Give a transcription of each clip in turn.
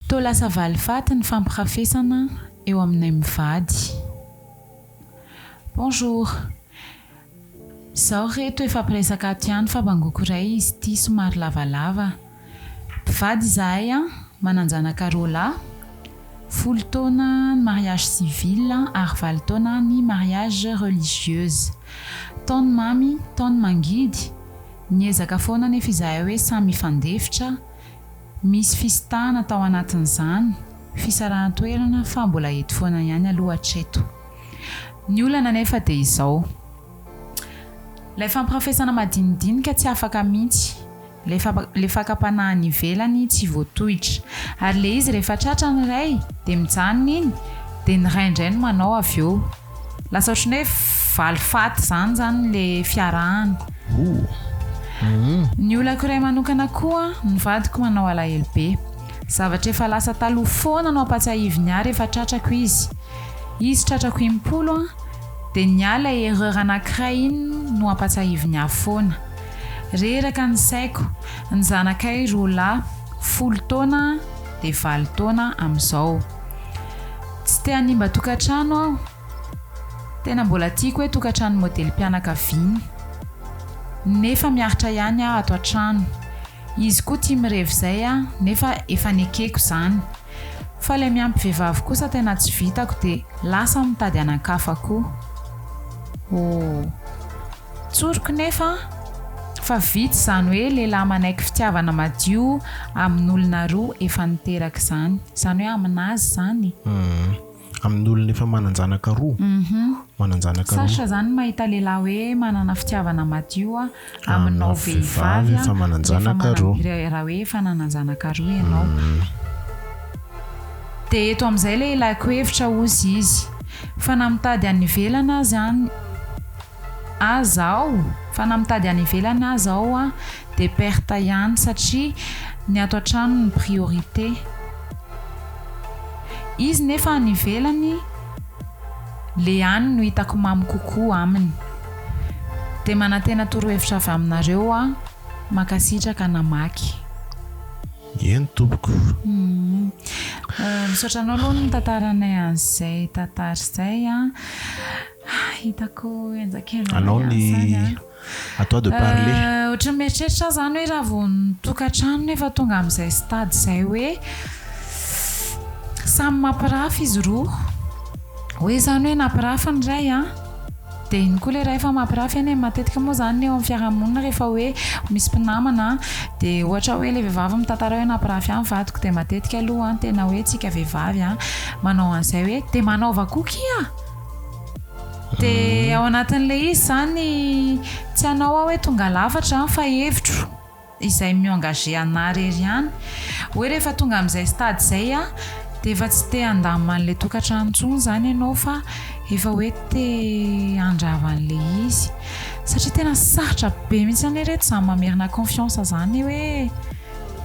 Toa lasa valifaty ny fampirafesana eo aminay mivady. Bonjour. Zaho re to efa mpiresaka ato ihany fa bangoko iray izy ity somary lavalava. Mpivady izahay an, manan-janaka roa lahy, folo taona ny mariage civil ary valo taona ny mariage religieuse. Tao ny mamy, tao ny mangidy, niezaka foana anefa izahay hoe samy hifandefitra, Misy fisintahana tao anatin'izany fisarahan-toerana fa mbola eto foana ihany aloha hatreto. Ny olana anefa dia izao, ilay fampirafesana madinidinika tsy afaka mihitsy, ilay fakam-panahy any ivelany tsy voatohitra. Ary ilay izy rehefa tratra ny iray dia mijanona iny dia ny iray indray no manao avy eo. Lasa ohatran'ny hoe valifaty izany izany le fiarahana. Ny olako iray manokana koa, ny vadiko manao alahelo be. Zavatra efa lasa taloha foana no ampatsiahiviny ahy rehefa tratrako izy. Izy tratrako impolo an, dia ny ahy ilay erreur anankiray iny no ampatsiahiviny ahy foana. Reraka ny saiko, ny zanakay roa lahy, folo taona dia valo taona amin'izao. Tsy te hanimba tokantrano aho. Tena mbola tiako hoe tokantrano modelim-pianakaviana. Nefa miaritra ihany aho ato an-trano. Izy koa tia mirevy izay aho nefa efa nekeko izany. Fa ilay miampy vehivavy kosa tena tsy vitako dia lasa aho mitady anankafa koa. Ohh. Tsoriko nefa fa vitsy izany hoe lehilahy manaiky fitiavana madio amin'olona roa efa niteraka izany. Izany hoe amin'azy izany e. Amin'olona efa manan-janaka roa? Manan-janaka roa. Sarotra izany ny mahita lehilahy hoe manana fitiavana madio aminao vehivavy efa manan-janaka roa. Raha hoe efa nanan-janaka roa ianao. Dia eto amin'izay ilay ilàko hevitra hozy izy. Fa na mitady any ivelany aza an. Aza aho fa na mitady any ivelany aza aho a de perte ihany satria ny ato an-trano no priorité. Izy nefa any ivelany le any no hitako mamy kokoa aminy. De manantena torohevitra avy aminareo aho. Mankasitraka namaky. Eny tompoko. Misaotra anao aloha nitantara anay an'izay tantara izay a. Ah, hitako enjak'enjana Anao ny à toi de parler. Euh, ohatran'ny mieritreritra zany hoe raha vao ny tokantranony efa tonga amin'izay stade izay hoe samy mampirafy izy roa. Hoe zany hoe nampirafy ny iray a, dia iny koa ilay iray efa mampirafy eny e, matetika moa zany ny eo amin'ny fiarahamonina rehefa hoe misy mpinamana dia ohatra hoe ilay vehivavy mitantara hoe nampirafy ahy ny vadiko dia matetika aloha an tena hoe tsika vehivavy an manao an'izay hoe dia manaova koa kia. Dia ao anatin'ilay izy izany, tsy hanao aho hoe tonga lafatra izany fa hevitro, izay mi-engager anà irery ihany, hoe rehefa tonga amin'izay stade izay aho dia efa tsy te handamina an'ilay tokantrano intsony izany ianao fa efa hoe te handrava an'ilay izy. Satria tena sarotra be mihitsy anie ireto izany mamerina confiance izany hoe,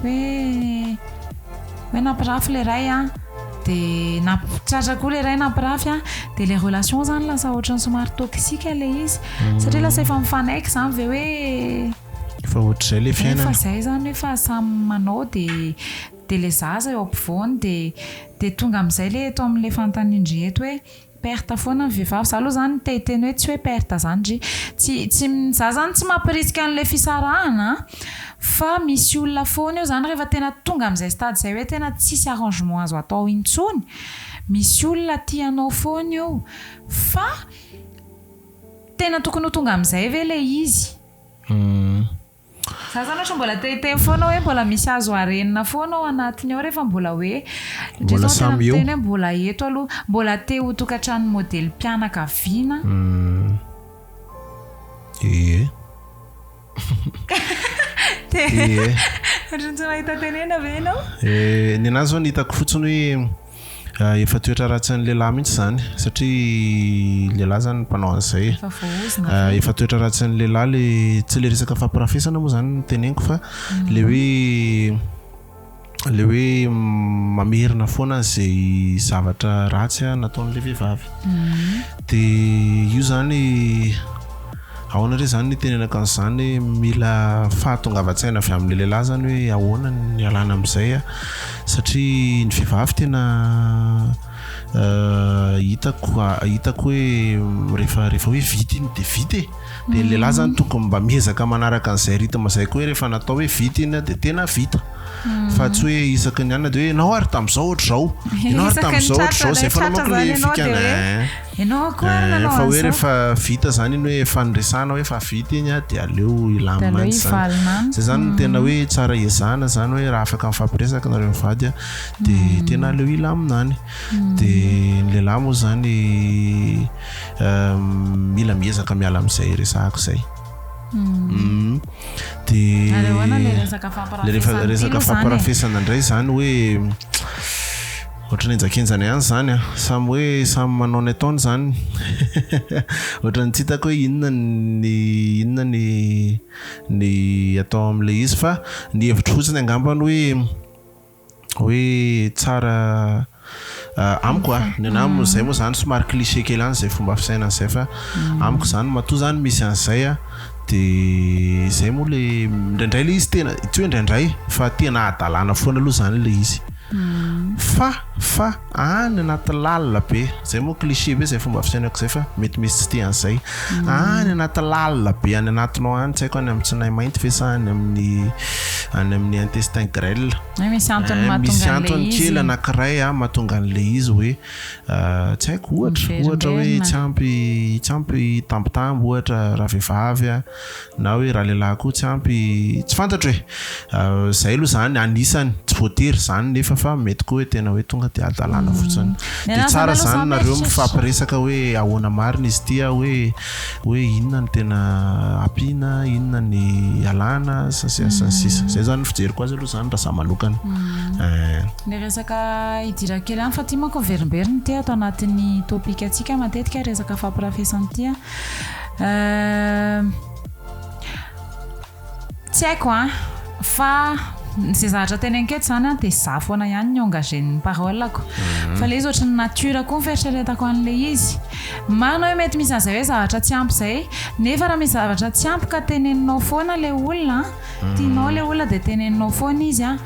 hoe. Hoe nampirafy le ray a, de nampitratra koa le ray nampirafy a, de le relation zany lasa ohatrany somary toxique le izy, hmm. satria lasa efa mifanaiky zany ve hoe efa ohatr'izay le fiainana. Efa zay zany efa samy manao de de le zaza eo ampovoany de de tonga am'zay le eto am'le fanontanian-dry eto hoe Perte foana ny vehivavy. Za aloha zany te hiteny hoe tsy hoe perte zany ry. Tsy tsy za zany tsy mampirisika an'le fisarahana an, fa misy olona foana eo zany rehefa tena tonga am'zay stade zay hoe tena tsisy arrangement azo atao intsony, misy olona tia anao foana io. Fa tena tokony ho tonga am'zay ve le izy? Za zany ohatra mbola te hiteny foana hoe mbola misy azo harenina foana ao anatiny ao rehefa mbola hoe mbola samy eo tena mbola eto aloha mbola te ho tokatranon'ny modely mpianakaviana ee te ohatran'ny tsy mahita tenena ve ianao ee ny anazy zao ny hitako fotsiny hoe Efa toetra ratsin'ny lehilahy mihitsy izany satria lehilahy izany ny mpanao an'izay. Efa voahozona. Efa toetra ratsin'ny lehilahy le tsy le resaka fampirafesana moa izany no teneniko fa le hoe le hoe mamerina foana izay zavatra ratsy nataon'ilay vehivavy. Dia io izany Ahoana re zany ny hitenenako an'izany hoe mila fahatongavan-tsaina avy amin'ny lehilahy zany hoe ahoana ny hialana amin'izay a! satria ny vehivavy tena hitako hitako hoe rehefa rehefa hoe vita iny de vita e! de ny lehilahy zany tokony mba miezaka manaraka an'izay rythme izay koa hoe rehefa natao hoe vita iny de tena vita fa tsy hoe isaky ny anona de hoe ianao ary tamin'izao ohatr'izao ianao ary tamin'izao ohatr'izao zay foana manko le fikana ein! Enao akory eh, nanao fa hoe rehefa vita zany iny hoe faniresana hoe fa vita iny a de aleo ilamy mantsy zany zay zany no tena hoe mm. tsara ezana zany hoe raha afaka mifampiresaka nareo mivady a de mm. tena aleo ilaminany mm. de ny lehilahy moa zany mila miezaka miala am'izay resahako zay de le resaka fampirafesana indray zany hoe Ohatran'ny enjakenjana ihany izany an! Samy hoe samy manao ny ataony izany. Ohatran'ny tsy hitako hoe inona ny inona ny ny atao amin'ilay izy fa ny hevitro fotsiny angamba ny hoe hoe tsara amiko a! Ny anah moa izay moa izany somary cliché kely any izay fomba fisainana izay fa amiko izany matoa izany misy an'izay a! Dia izay moa ilay indraindray ilay izy tena tsy hoe indraindray fa tena hadalana foana aloha izany ilay izy. Fa, fa any anaty lalina be, zay moa cliché be zay fomba fisainako zay fa mety misy tsy tia an'izay. Any anaty lalina be any anatinao any, tsy haiko any amin'ny tsinay mainty ve sa any amin'ny any amin'ny intestin grêle. Hoe misy antony eh, mahatonga misy an'ilay antony izy. kely anankiray ah, mahatonga an'ilay izy hoe ah, tsy haiko ohatra, ohatra hoe Miverimberina. tsy ampy tsy ampy tambitamby ohatra ravehivavy ah, Na hoe ralehilahy koa tsy ampy, tsy fantatro e! Izay aloha izany anisany, tsy voatery izany nefa fa mety koa hoe tena hoe tonga dia hadalana fotsiny. Dia tsara izany nareo mifampiresaka hoe ahoana marina izy ity a, hoe hoe inona no tena ampiana, inona ny ialana sy ny sisa sy ny sisa. Izay izany ny fijeriko azy aloha izany raha izaho manokana eh. Ny resaka idirako kely ihany fa ity manko miverimberina ity ato anatin'ny topic antsika matetika resaka fampirafesana ity a. Tsy haiko an, fa izay zavatra teny an-keto izany an, dia izaho foana ihany no engagé ny parole-ko. Fa ilay izy ohatran'ny nature koa ny fieritreretako an'ilay izy. Marina hoe mety misy an'izay hoe zavatra tsy ampy izay, nefa raha misy zavatra tsy ampy ka teneninao foana ilay olona an. Tianao ilay olona dia teneninao foana izy an,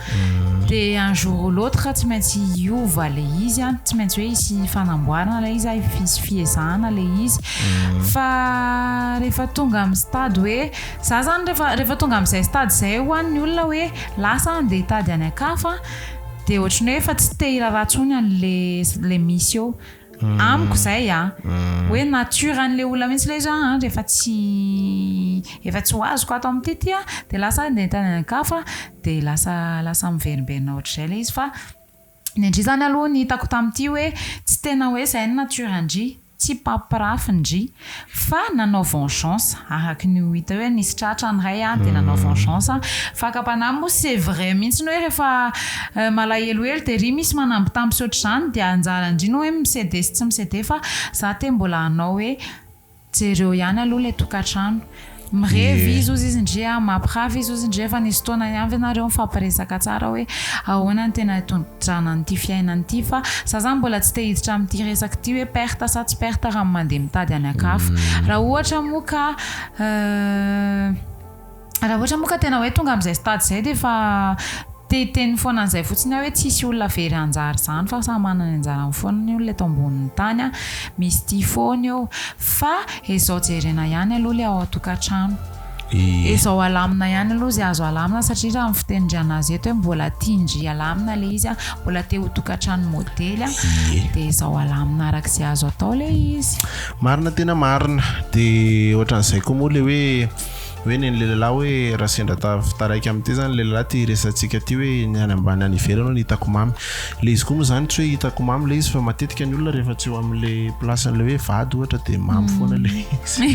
dia un jour ou l'autre tsy maintsy hiova ilay izy an, tsy maintsy hoe hisy fanamboarana ilay izy, hisy fiezahana ilay izy. Fa rehefa tonga amin'ny stade hoe, za zany rehefa rehefa tonga amin'izay stade izay ho an ny olona hoe lasa aho andeha hitady any an-kafa dia ohatran'ny hoe efa tsy te hiraharaha intsony an'ilay ilay misy eo. Amiko zay an! Hoe nature an'ilay olona mihitsy ilay izy hoe an! rehefa tsy efa tsy ho azoko ato amin'ity ity an! dia lasa andeha tany an-kafa dia lasa lasa miverimberina ohatr'izay ilay izy fa ny an-dry zany aloha ny hitako tamin'ity hoe tsy tena hoe izay ny nature an-dry, tsy mpampirafy ny dry. Fa nanao vengeance. Araky ny ho hita eo hoe nisy tratra ny ray dia nanao vengeance. Fakam-panahy moa c'est vrai mihitsy ny hoe rehefa malahelohelo dia ry misy manambitamby sy ohatr'izany dia anjara ndry ny hoe mi-ceder sy tsy mi-ceder fa za te mbola hanao hoe jereo ihany aloha ilay tokantrano. Mirevy izy ozy izy ndry a, mampirafy izy ozy ndry efa nisy fotoana ihany ve nareo nifampiresaka tsara hoe ahoana ny tena itondrana an'ity fiainana ity fa za zany mbola tsy te hiditra amin'ity resaka ity hoe perte sa tsy perte raha mandeha mitady an'akafa raha ohatra moa ka raha ohatra moa ka tena hoe tonga am'zay stade zay de efa Te hiteny foana an'izay fotsiny aho hoe tsy hisy olona very hanjary izany fa samy manana ny anjarany foana ny olona eto ambonin'ny tany a! Misy tia foana eo. Fa ezao jerena ihany aloha ilay ao an-tokantrano. Ezao alamina ihany aloha izay azo alamina satria raha ny fitenin-dRiana azy eto hoe mbola tian-dry alamina ilay izy a, mbola te ho tokantrano modely a, dia ezao alamina araka izay azo atao ilay izy. Marina tena marina. Dia ohatran'izay koa moa ilay hoe. Hoe ny an'i Lelalahy hoe raha sendra taf taraiky amin'ity izany i Lelalahy ity resatsika ity hoe ny any ambany any ivelany hono hitako mamy. Ilay izy koa moa izany tsy hoe hitako mamy ilay izy fa matetika ny olona rehefa tsy eo amin'ilay place an'ilay hoe vady ohatra dia mamy foana ilay izy.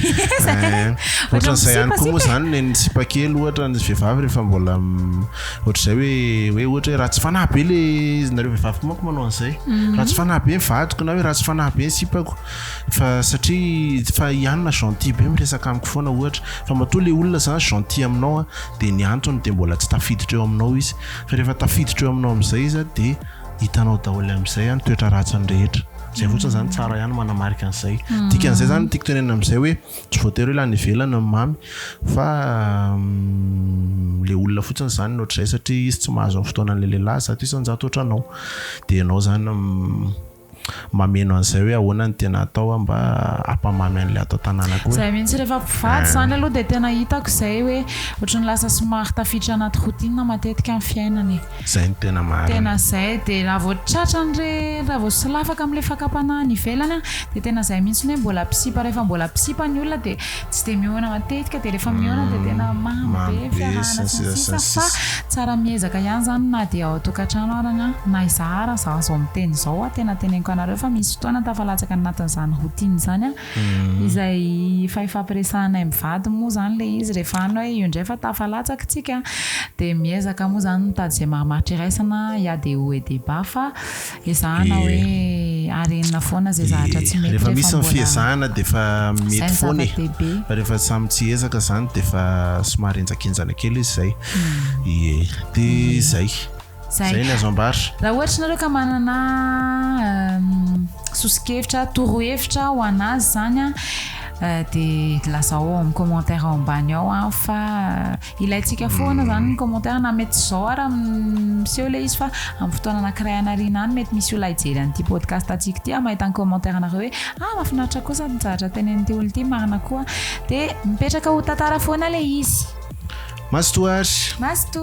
Eh, ohatran'izay ihany koa moa izany ny ny sipa kely ohatra ny vehivavy rehefa mbola ohatr'izay hoe hoe ohatra hoe ratsy fanahy be ilay izy nareo vehivavy koa manko manao an'izay. Mhm. Ratsy fanahy be ny vadiko na hoe ratsy fanahy be ny sipako. Fa satria fa i Anna gentil be miresaka amiko foana ohatra, fa matoa le olona zany gentil aminao a de ny antony de mbola tsy tafiditra eo aminao izy, fa rehefa tafiditra eo aminao amizay izy a de hitanao daholo amizay a ny toetra ratsiny rehetra, zay fotsiny zany tsara ihany manamarika anizay, dikan'izay zany tiako tenenina amizay hoe tsy voatery hoe lany ivelany ny mamy fa le olona fotsiny zany no ohatr'izay satria izy tsy mahazo ny fotoanan'le lehilahy zato isan-jato otranao de ianao zany Mameno an'izay hoe ahoana ny tena atao mba hampamamy an'ilay ato an-tanànako hoe. Zay mihitsy rehefa mpivady zany aloha dia tena hitako izay hoe ohatran'ny lasa somary tafiditra anaty routine matetika ny fiainana e. Zay no tena marina. Tena zay dia raha vao tratrany re raha vao solafaka amin'ilay fakam-panahy any ivelany an dia tena zay mihitsy hoe mbola mpisipa rehefa mbola mpisipa ny olona dia tsy dia mihaona matetika dia rehefa mihaona dia tena mamy be fiarahana sy ny sisa fa tsara miezaka ihany izany na dia ao an-tokantrano ary na na izaho ary izaho izao miteny izao aho tena teneniko anareo fa misy fotoana tafalatsaka anatin'izany routine izany aho izay efa ifampiresahanay mivady moa izany ilay izy rehefa any hoe io indray fa tafalatsaka isika dia miezaka moa izany mitady izay mahamaritra iraisana il y a des hauts et des bas fa Ezahana hoe ary enina foana izay zahatra tsy mety rehefa misy ny fiezahana dia efa mety foana e fa rehefa samy tsy ezaka izany dia efa somary henjakenjana kely izy izay ie dia izay izay ny azo ambara raha ohatra nareo ka manana soso-kevitra torohevitra ho anazy izany dia lazao ao amin'ny commentaire ao ambany ao fa Ilaintsika foana zany ny commentaire na mety zao ara miseho le izy fa amin'ny fotoana anakiray anarina any mety misy olona hijery an'ity podcast antsika ity mahita ny commentaire anareo hoe ah mafinaritra kosa ny zavatra tenenin'ity olona ity marina koa de mipetraka ho tantara foana le izy masto ary masto